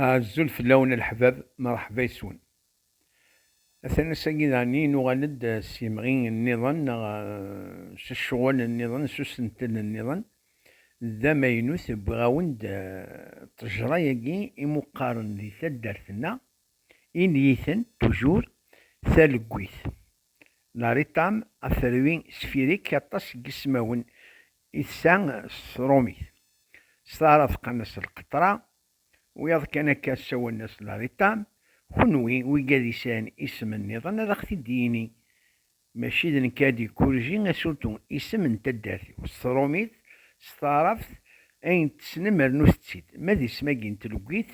Azul fell-awen a leḥbab, merḥba yes-wen. Atan ass-agi daɣenni nuɣal-d s yemɣi nniḍen neɣ s ccɣel nniḍen, s usentel nniḍen. D amaynut, wwiɣ-awen-d ṭṭejra-agi imuqqaren di taddart-nneɣ, iniyiten, toujours, talegguyt. La ritam, aferwi, sphirique, aṭas n yismawen I tessa s tṛumit. S taɛṛabt qqaren-as lqeṭṛa, wiyaḍ kan akka ssawalen-as lariṭa. Kenwi, wigi ad isɛin isem nniḍen ad aɣ-t-id-yini. Mačči d nekk ara d-ikurriji asurtu, isem n taddart-iw s tṛumit, s taɛṛabt, ayen tessnem rnut-tt-id. Ma d isem-agi n tleggit,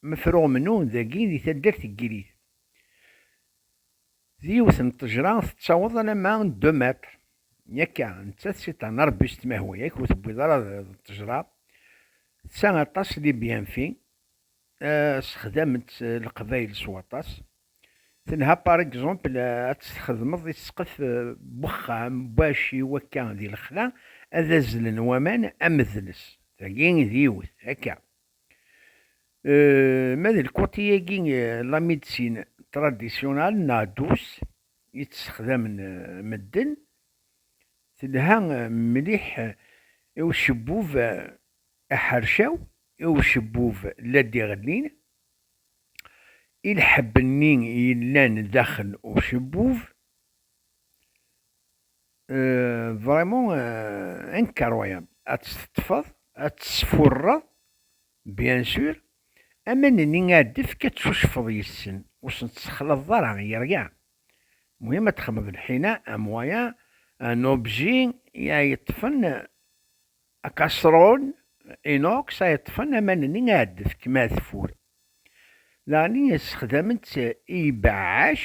mefruɣ mnu dagi di taddart n Gilit. D yiwet n ṭṭejra tettaweḍ alamma n deux mètres. Yakka, nettat c'est un arbuste ma huwa yak ur tewwiḍ ara d ṭṭejra. Tsa aṭas les bienfaits, sexdament-tt leqbayel s waṭas. Tenha par exemple ad tt-txedmeḍ i ssqef n wexxam bac i wakka di lexla ad azzlen waman am dles. Tagi d yiwet, akka. Ma d lkuṭi-agi la médecine traditionnelle neɣ douce i tt-sexdamen medden, telha mliḥ i ucebbub aḥercaw, i ucebbub la d-iɣellin, i lḥebb-nni yellan daxel ucebbub. Vraiment incroyable ad tt-teṭṭfeḍ ad tt-tesfurreḍ bien sûr aman-nni ad d-tefk ad tcucfeḍ yes-sen ur sen-tessexlaḍeḍ ara i rien muhim ad texmeḍ lḥina un moyen un objet ay yeṭṭfen un casserole inox ay yeṭṭfen aman-nni ad d-tefk ma tefur daɣen ssexdamen-tt i yibeɛɛac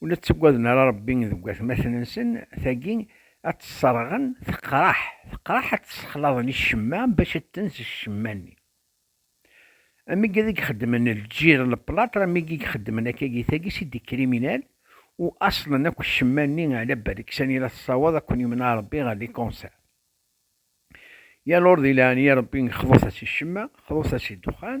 Ur la ttaggaden ara Ṛebbi deg watmaten-nsen, tagi ad tt-sseṛɣen, teqreḥ, teqreḥ ad tt-ssexlaḍen i ccemma bac ad tenz ccemma-nni. Amig ad i ixeddmen lǧir n leplaṭr, amig i ixeddmen akka gi tagi si d-ikriminal, u aṣlen akk ccemma-nni ɛla Beriksan i la tessawaḍ a ken-imneɛ Ṛebbi ɣer li concert. Yal ur di leɛnaya Ṛebbi xḍut-as i ccemma, xḍut-as i ddexxan.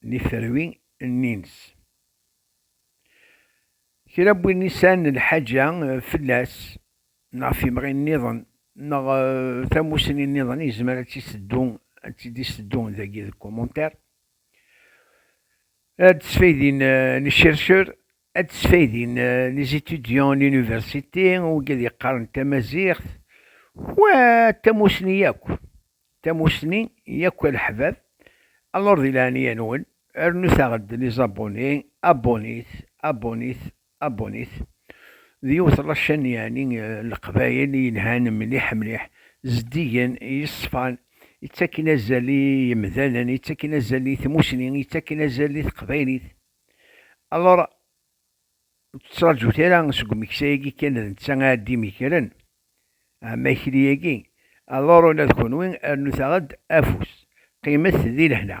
n yiterwi nni-ines. Kra n win i sɛan lḥaǧa fell-as neɣ timɣi nniḍen neɣ tamussni nniḍen yezmer ad tt-iseddu, ad tt-id-iseddu dagi deg commentaire. Ad d-sfaydin les chercheurs Ad d-sfaydin les étudiants en université, wigi ad yeqqaren tamaziɣt, wa tamusni yakk, tamusni yakk a leḥbab, alors di leɛnaya-nwen rnut-aɣ-d les abonnés, abonnés, abonnés, abonnés, d yiwet la chaîne yeɛni n leqbayel yelhan mliḥ mliḥ, zeddigen, yeṣfan, yettaken azal i yemdanen, yettaken azal i tmusni, yettaken azal i teqbaylit. Alors, ur tettraǧut ara seg umeksa-agi kan d netta ara d-imekren amakri-agi. Alors, ula d kenwi, rnut-aɣ-d afus, qqimet di lehna.